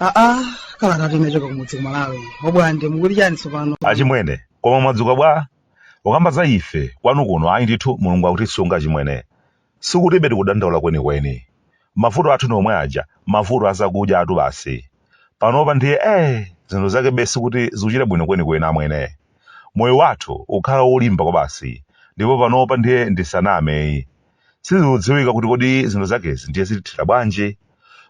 aa kalatatu inachoka kumudzi kumalawi obwande mukuti chani tsopano achimwene koma mwadzuka bwa ukamba za ife kwanu kuno ayi ndithu mulungu akutisunga chimwene Sikuti ife tikudandaula kwenikweni. Mavuto athu ni omwe aja, mavuto a zakudya atu basi. Panopa ndiye eeh! Zinthu zakebe sikuti zikuchita bwino kwenikweni amwene. Moyo wathu ukhala wolimba kwabasi, ndipo panopa ndiye ndisanameyi. Sizikudziwika kuti kodi zinthu zakezi ndiye zitithera bwanji?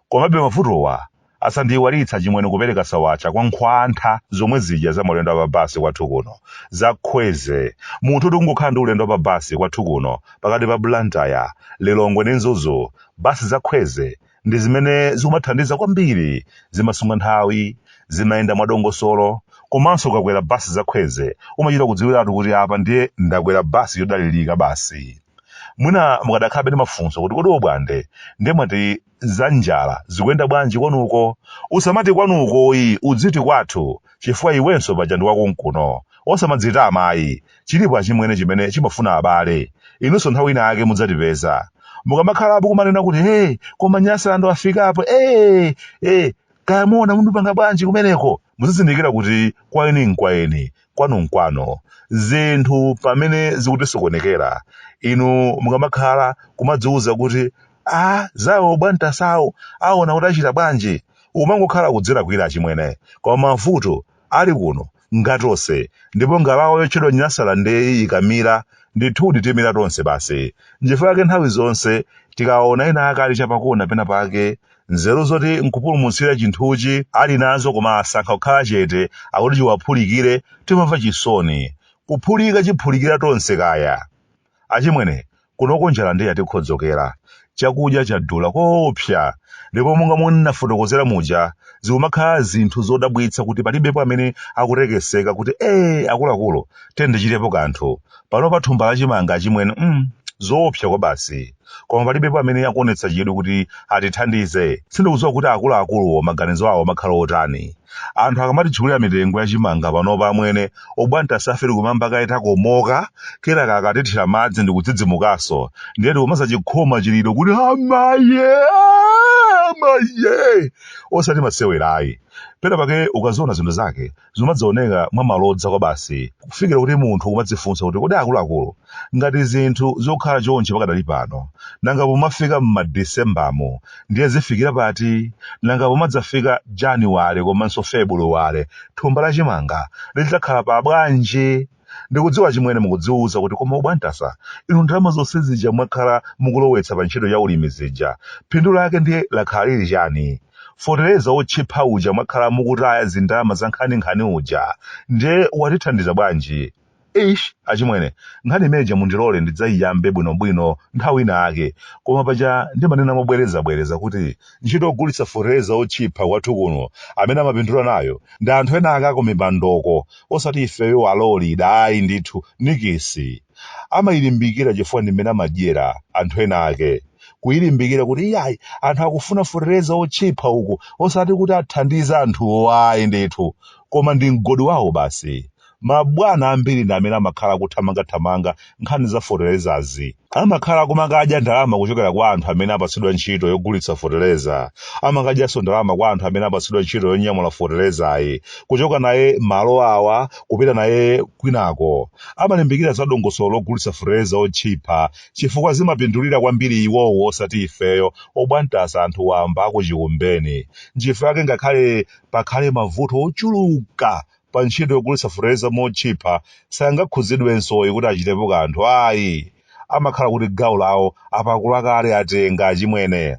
Komabe mavutowa Asandiiwalitsa chimwene kupereka sawacha kwa nkhwantha zomwe zija za maulendo a pa bus kwathu kuno. Za Kwezy. Munthu oti kungokhala ndi ulendo wa pa bus kwathu kuno pakati pa Blantyre, Lilongwe ndi Mzuzu, bus za Kwezy ndi zimene zikumathandiza kwambiri. Zimasunga nthawi, zimayenda mwadongosolo komanso ukakwera bus za Kwezy umachita kudziwiratu kuti apa ndiye ndakwera bus yodalirika basi. Mwina mukadakhalabe ndi mafunso kuti kodi obwande ndiye mwati za njala zikuyenda bwanji kwanuko? Usamati kwanukoyi, udziti kwathu chifukwa iwenso paja ndi wakonkuno. Osamadzitama ayi. Chilipo achimwene chimene chimafuna abale. Inunso nthawi ina yake mudzatipeza. Mukamakhalapo kumanena kuti hey, koma Nyasaland wafikapo, ee, ee, kaya muona muipanga bwanji kumeneko muzizindikira kuti kwa eni nkwaeni kwanu nkwanu zinthu pamene zikutisokonekera inu mukamakhala kumadziwuza kuti a zawo obwantasawo aona kuti achita bwanji umangokhala kudzilakwira achimwene koma mavuto ali kuno Ngatonse, ndipo ngalawa yotchedwa Nyasalandeyi ikamira, ndithudi timira tonse basi. Nchifukwa chake nthawi zonse tikawaona ena ake ali chapakona penapake, nzeru zoti nkupulumutsira chinthuchi ali nazo koma asankha kukhala chete akuti chiwaphulikire, timamva chisoni. Kuphulika chiphulikira tonse kaya! Achimwene, kunoko njala ndiye yatikhodzokera. Chakudya chadula koopsa ndipo monga momwe ndinafotokozera muja, zikumakhala zinthu zodabwitsa kuti palibepo amene akutekeseka kuti ee akuluakulu tiyeni tichitepo kanthu. Panopa thumba la chimanga achimwene mm, zoopsa kwabasi. koma palibepo amene akuonetsa chidwi kuti atithandize sindikudziwa kuti akuluakuluwo maganizo awo amakhala otani anthu akamatitchulira mitengo ya chimanga panopa amwene obwantasafe tikumayamba kaye takomoka kenaka akatithira madzi ndikudzidzimukanso ndiye tikumadzachikhoma chiliro kuti amaye amaye osati masewerayi pena pake ukaziona zinthu zake zimadzaoneka mwa malodza kwabasi kufikira kuti munthu kumadzifunsa kuti kodi akuluakulu ngati zinthu zokhala chonchi pakadali pano nanga pomafika m'madisembamu ndiye zifikira pati nanga pomadzafika januwale komanso febuluwale thumba la chimanga lidzakhala pa bwanji Ndikudziwa chimwene mukudziuza kuti koma obwantasa inu ndalama zonse zija mwakhala mukulowetsa pa ntchito ya ulimi zija phindu lake ndiye lakhala lili chani? Fotereza wotchipha uja mwakhala mukutaya zindalama za nkhaninkhani uja ndiye watithandiza bwanji? Eish achimwene nkhani imene ija mundilole ndidzaiyambe bwinobwino nthawi ina yake koma paja ndimanena mobwerezabwereza kuti ntchito yogulitsa fotereza wotchipha kwathu kuno amene amapindula nayo ndi anthu ena ake akumipandoko osati ifeyo alolida ayi ndithu nikisi amayilimbikira chifukwa ndi mmene amadyera anthu ena ake kuyilimbikira kuti iyayi anthu akufuna fotereza wotchipha uku osati kuti athandize anthuwo ayi ndithu koma ndi mgodi wawo basi mabwana ambiri ndi amene amakhala akuthamangathamanga nkhani za fotelezazi amakhala kumakadya ndalama kuchokera kwa anthu amene apatsidwa ntchito yogulitsa foteleza amakadyanso ndalama kwa anthu amene apatsidwa ntchito yonyamula fotelezayi kuchoka naye malo awa kupita naye kwinako amalimbikira za dongosolo logulitsa foteleza otchipa chifukwa zimapindulira kwambiri iwowo osati ifeyo obwantasa anthu wamba akuchikumbeni nchifukwa yake ngakhale pakhale mavuto ochuluka pa ntchito yogulitsa fotereza motchipha sangakhudzidwensoyi kuti achitepo kanthu ayi amakhala kuti gawo lawo apakula kale atenga achimwene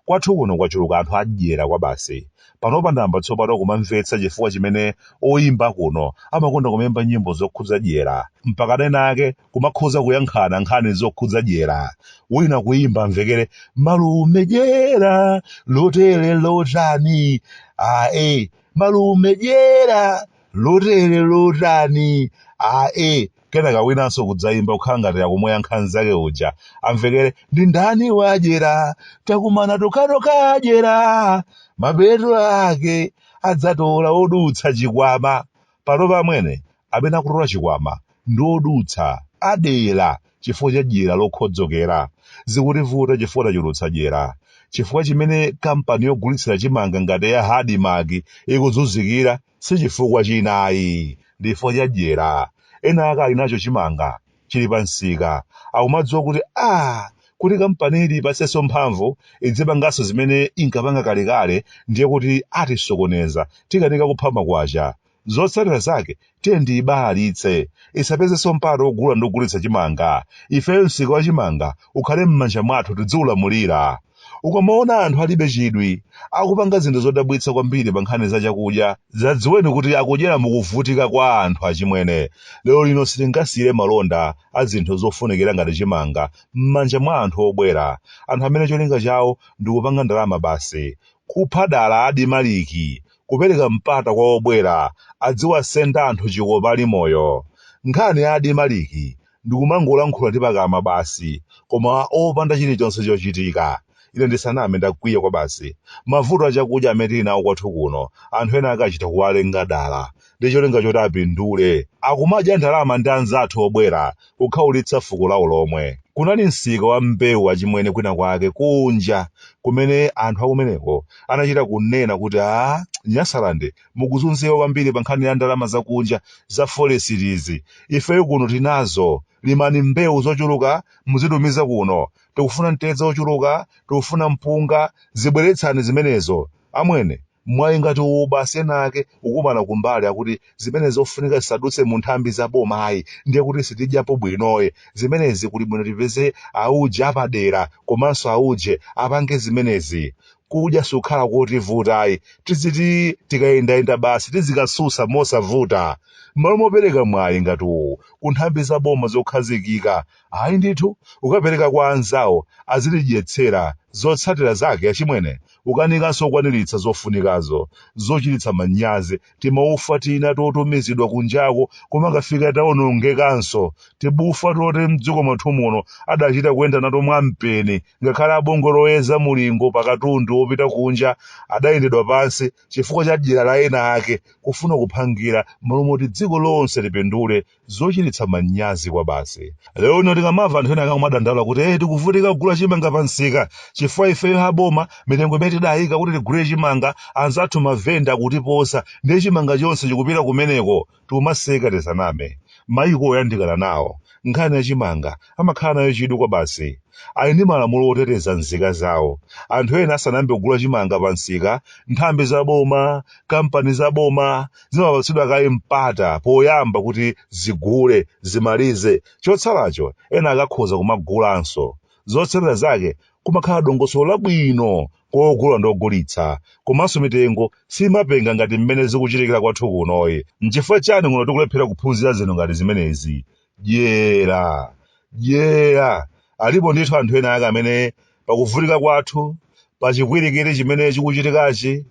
kwathu kuno kwachuluka anthu adyera kwabasi panopa ndayamba tsopano kumamvetsa chifukwa chimene oyimba kuno amakonda kumayimba nyimbo zokhudza dyera mpaka ena ake kumakhoza kuyankhana nkhani zokhudza dyera wina kuyimba amvekere malume dyera lotere lotani ae malume dyera lotere lotani ae kenaka winanso kudzayimba kukhala ngati akumuyankha nzake uja amvekere ndi ndani wadyera takumana tokhatokha adyera mapeto ake adzatola odutsa chikwama panopa amwene amene akutola chikwama ndi odutsa adyera chifukwa cha dyera lokhodzokera zikutivuta chifukwa tachulutsa dyera chifukwa chimene kampani yogulitsira chimanga ngati ya admarc ikuzunzikira si chifukwa china ayi ndi chifukwa cha dyera ena ake ali nacho chimanga chili pa msika akumadziwa kuti ah kuti kampani iyi ipezenso mphamvu idzipanganso zimene inkapanga kalekale ndiye kuti atisokoneza tikanika kupha makwacha zotsatira zake tiye tiyibalalitse isapezenso mpata wogula ndi kugulitsa chimanga ifeyo msika wa chimanga ukhale m'manja mwathu tidziulamulira Ukamaona anthu alibe chidwi, akupanga zinthu zodabwitsa kwambiri pa nkhani za chakudya, zadziweni kuti akudyera mu kuvutika kwa anthu achimwene. Lero lino sitingasiyire malonda a zinthu zofunikira ngati chimanga m'manja mwa anthu obwera, anthu amene cholinga chawo ndi kupanga ndalama basi. Kupha dala adimaliki, kupereka mpata kwa obwera aziwasenda anthu chikopa ali moyo. Nkhani ya adimaliki ndikumangolankhula ndi pakamwa basi, koma opanda chilichonse chochitika. Ine ndisaname, ndakwiya kwabasi. Mavuto a chakudya amene tili nawo kwathu kuno, anthu ena akachita kuwalenga dala, ndi cholinga choti apindule, akumadya ndalama ndi anzathu obwera kukhaulitsa fuko lawo lomwe. Kunali msika wa mbewu achimwene kwina kwake kunja kumene anthu akumeneko anachita kunena kuti a Nyasaland mukuzunzika kwambiri pa nkhani ya ndalama zakunja za forekisi ifeyo kuno tinazo limani mbewu zochuluka muzitumiza kuno tikufuna mtedza wochuluka tikufuna mpunga zibweretsani zimenezo amwene mwayi ngati uwu basi ena ake kukumana kumbali akuti zimenezo ofunika zisadutse mu nthambi za boma ayi ndiye kuti sitidyapo bwinoye zimenezi kuli bwino tipeze auje apadera komanso auje apange zimenezi kudya sukhala kotivuta ayi tiziti tikayendayenda basi tizikasusa mosavuta m'malo mopereka mwayi ngati uwu ku nthambi za boma zokhazikika ayi ndithu kukapereka kwa anzawo azidyetsera zotsatira zake achimwene kukanikanso kukwaniritsa zofunikazo zochititsa manyazi timaufa tina totumizidwa kunjako koma kukafika tawonongekanso timaufa toti mdziko mwathu muno adachita kuyenda nato mwampeni ngakhale abungwe loyeza mulingo pa katundu wopita kunja adayendedwa pansi chifukwa cha dyera la ena ake kufuna kuphangira m'malo moti dziko lonse lipindule zochititsa manyazi kwabasi lero lino tikamamva anthu ena akumadandaula kuti eh tikuvutika kugula chimanga pa msika chifukwa ifeyo aboma mitengo imene tidayika kuti tigule chimanga anzathu mavenda akutiposa ndiye chimanga chonse chikupita kumeneko tikumaseka tisaname mayiko oyandikana nawo nkhani ya chimanga amakhala nayo chidwi kwabasi ali ndi malamulo oteteza nzika zawo anthu ena asanayambe kugula chimanga pa msika nthambi za boma kampani za boma zimapatsidwa kaye mpata poyamba kuti zigule, zimalize. Chotsalacho ena akhoza kumagulanso. Zotsatira zake kumakhala dongosolo labwino kwa ogula ndi ogulitsa. Komanso mitengo simapenga ngati mmene zikuchitikira kwathu kunoyi. N'chifukwa chiyani kuno tikulephera kuphunzira zinthu ngati zimenezi? Dyera. Dyera. Alipo ndithu anthu ena ake amene pakuvutika kwathu, pa chipwirikiti chimene chikuchitikachi,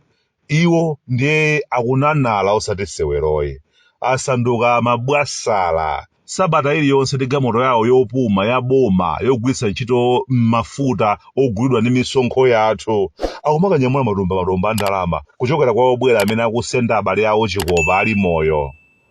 Iwo ndiye akunenera osati seweroyi. Asanduka mabwasala. Sabata iliyonse ndi galimoto yawo yopuma ya boma yogwiritsa ntchito mafuta ogulidwa ndi misonkho yathu. Akumakanyamula matumba matumba a ndalama kuchokera kwa obwera amene akusenda abale awo chikopa ali moyo.